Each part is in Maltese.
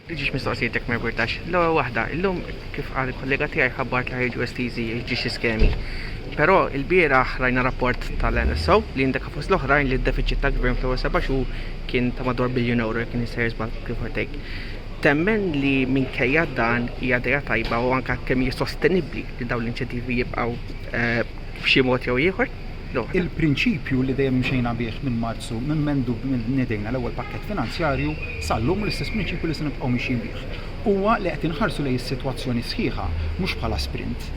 L-ġiex mistoqsijiet jekk ma jimpurtax. L-ewwel waħda, illum kif qal il-kollega tiegħi ħabbart li ħa jiġu estiżi l-ġiex iskemi. Però ilbieraħ rajna rapport tal-NSO li indika fost l-oħrajn li d-defiċit tal-Gvern fl-ewwel seba' xhur kien ta' madwar biljun ewro jekk iniex sejjer żball give or take. Temmen li minkejja dan hija idea tajba u anke kemm hi sostenibbli li dawn l-inċentivi jibqgħu f'xi mod jew ieħor? Il-prinċipju li dejjem imxejna bih minn Marzu, minn mendu bnedejna l-ewwel pakkett finanzjarju sal-lum u l-istess prinċipju li se nibqgħu mixjin bih, huwa li qed inħarsu lejn is-sitwazzjoni sħiħa mhux bħala sprint,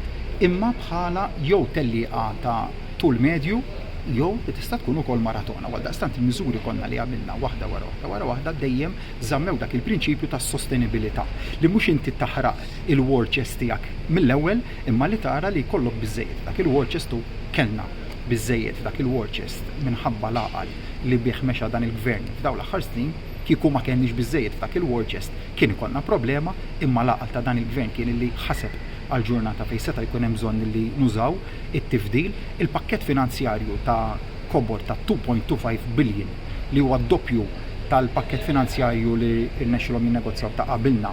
imma bħala jew tellieqa ta' tul medju jew li tista' tkun ukoll maratona. Għaldaqstant il-miżuri konna li għamilna waħda wara waħda wara waħda dejjem żammew dak il-prinċipju tas-sostenibilità, li mhux inti taħraq il-war chest tiegħek mill-ewwel imma li tara li jkollok biżżejjed. Dak il-war chest u kellna biżżejjed dak il-war chest minħabba l-għaqal li bih mexa dan il-Gvern f'dawn l-aħħar snin. Kieku ma kellniex biżżejjed f'dak il-war chest kien ikollna problema imma l-għaqal ta' dan il-Gvern kien illi ħaseb għall-ġurnata fejn seta' jkun hemm bżonn illi nużaw it-tifdil. Il-pakkett finanzjarju ta' kobor ta' 2.25 billion li huwa d-doppju tal-pakkett finanzjarju li rnexxilhom jinnegozjaw ta' qabilna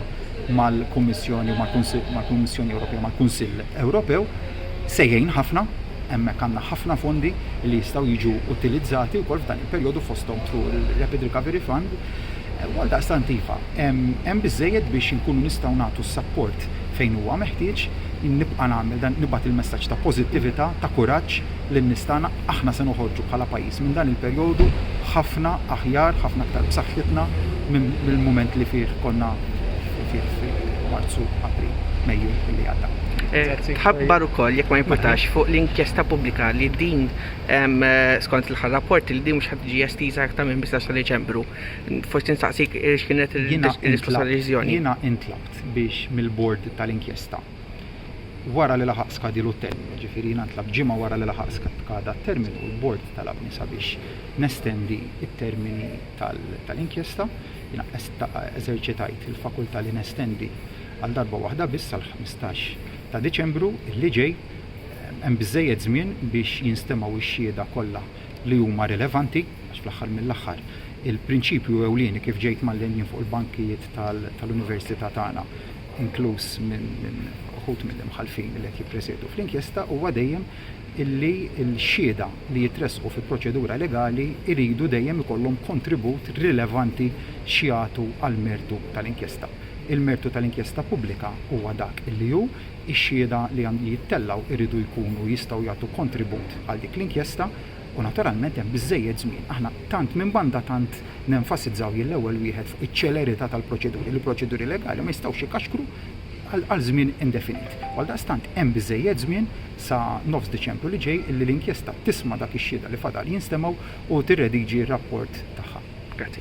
mal-Kummissjoni u mal-Kunsill, mal-Kummissjoni Ewropea u mal-Kunsill Ewropew, se jgħin ħafna. Hemmhekk għandna ħafna fondi li jistgħu jiġu utilizzati wkoll f'dan il-perjodu fosthom through il-Rapid Recovery Fund. U għaldaqstant iva, hemm biżżejjed biex inkunu nistgħu nagħtu s-sapport fejn huwa meħtieġ. Jien nibqa' nagħmel dan, nibgħat il-messaġġ ta' pożittività, ta' kuraġġ, lin-nies tagħna, aħna se noħorġu bħala pajjiż minn dan il-perjodu ħafna aħjar, ħafna aktar b'saħħitna mill-mument li fih konna fih f'Marzu, April, Mejju li għadda. Grazzi. Tħabbar ukoll jekk ma jimpurtax fuq l-inkjesta pubblika li din em, eh, skont l-aħħar rapport li din mhux ħadd tiġi estiża aktar minn 15 ta' Deċembru. Forsi nistaqsik eh, x'kienet Jiena il-risposta intlabt- tal-deċiżjoni. Jiena intlabt biex mill-bord tal-inkjesta wara li laħaq skadilu t-terminu, jiġifieri jiena ntlabt ġimgħa wara li laħaq skada t-terminu u l-Bord talabni sabiex nestendi t-termini tal-inkjesta, jiena eżerċitajt il-fakultà li nestendi għal darba waħda biss sal-15 ta' Diċembru li ġej. Hemm biżżejjed żmien biex jinstemgħu x-xhieda kollha li huma rilevanti għax fl-aħħar mill-aħħar il-prinċipju ewlieni kif ġejt mgħallen jien fuq il-bankijiet tal-Università tagħna inkluż minn uħud mill-imħallfin li qed jippresiedu fl-inkjesta, huwa dejjem illi l-xhieda li jitressqu fi proċedura legali jridu dejjem ikollhom kontribut rilevanti x'jagħtu għall-mertu tal-inkjesta. Il-mertu tal-inkjesta pubblika huwa dak li hu, ix-xhieda li jittellgħu jridu jkunu jistgħu jagħtu kontribut għal dik l-inkjesta, u naturalment hemm biżżejjed żmien. Aħna tant minn banda tant nenfasizzaw jien l-ewwel wieħed fuq iċ-ċelerità tal-proċeduri, li proċeduri legali ma jistgħux ikaxkru għal żmien indefinit. U għaldaqstant hemm biżżejjed żmien sa nofs Diċembru li ġej illi l-inkjesta tisma' dak ix-xhieda li fadal jinstemgħu u tirrediġi r-rapport tagħha. Grazzi.